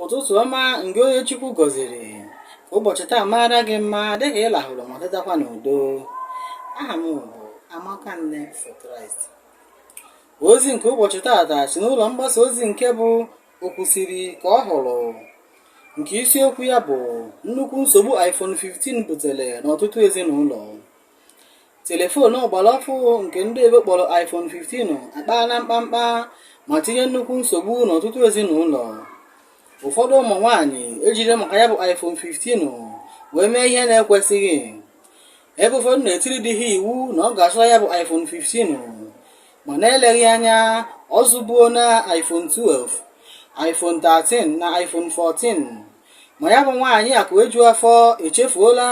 ụtụtụ ọma ngị onye Chukwu gọziri ka ụbọchị taa maara gị mma dịka ị lahụrụ ma tetakwa n'udo aha m bụ Amaka Nne for Christ ozi nke ụbọchị taata si n'ụlọ mgbasa ozi nke bụ okwusiri ka ọ hụrụ nke isiokwu ya bụ nnukwu nsogbu iPhone 15 butere n'ọtụtụ ezinụlọ telefon ọgbara ọfụụ nke ndị oyibo kpọrọ iPhone 15 akpaala mkpamkpa ma tinye nnukwu nsogbu n'ọtụtụ ezinụlọ ụfọdụ ụmụ nwaanyị ejiri maka ya bụ iPhone 15 wee mee ihe na-ekwesịghị ebe ụfọdụ na-etiri di ha iwu na ọ ga-azụta ya bụ iPhone 15 ma na-eleghị anya ọ zụbuola iPhone 12 iPhone 13 na iPhone 14 ma ya bụ nwaanyị akụ eju afọ echefuola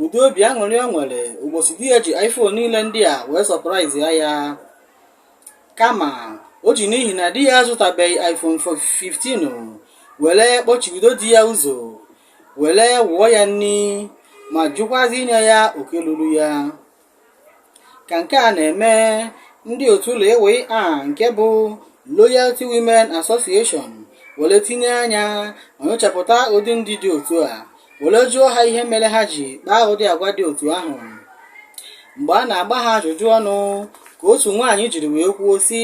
ụdị obi aṅụrị o nwere ụbọchị di ya ji iPhone niile ndị a wee sọpraịzịa ya kama o ji n'ihi na di ya azụtabeghị iPhone 15 were kpọchibido di ya ụzọ were wụọ ya nri ma jụkwazi inye ya oke luru ya ka nke a na-eme ndị otu LWA nke bụ Loyalty Women Association were tinye anya ma nyochapụta ụdị ndị dị otu a were jụọ ha ihe mere ha ji kpaa ụdị agwa dị otu ahụ mgbe a na-agba ha ajụjụ ọnụ ka otu nwaanyị jiri wee kwuo sị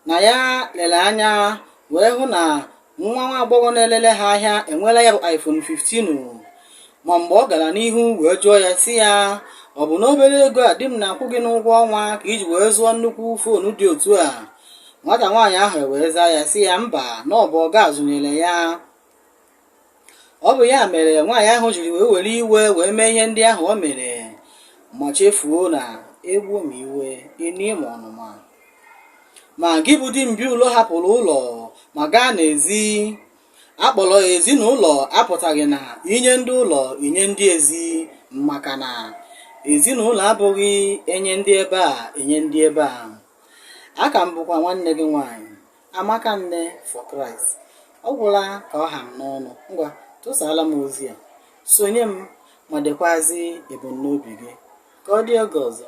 na ya lere anya wee hụ na nwa nwa agbọghọ na-elele ha ahịa enweela ya bụ iPhone 15 ma mgbe ọ gara n'ihu wee jụọ ya sị ya ọ bụ n'obere ego a di m na-akwụ gị n'ụgwọ ọnwa ka i ji wee zụọ nnukwu foonu dị otu a nwata nwaanyị ahụ ewee zaa ya sị ya mba na ọ bụ ọga zụnyere ya ọ bụ ya mere nwaanyị ahụ jiri wee were iwe wee mee ihe ndị ahụ o mere ma chefuo na egbuo ma iwe enie ma ọnụma ma gị bụ di mbi ụlọ hapụrụ ụlọ ma gaa n'ezi a kpọrọ ezinụlọ apụtaghị na inye ndị ụlọ inye ndị ezi maka na ezinụlọ abụghị enye ndị ebe a enye ndị ebe a a ka m bụkwa nwanne gị nwaanyị Amaka Nne for Christ. Ọ gwụla ka ọ ha m n'ọnụ. Ngwa, tụsaala m ozi a. Sonye m ma dekwazi ebumnobi gị. Ka ọ dị oge ọzọ.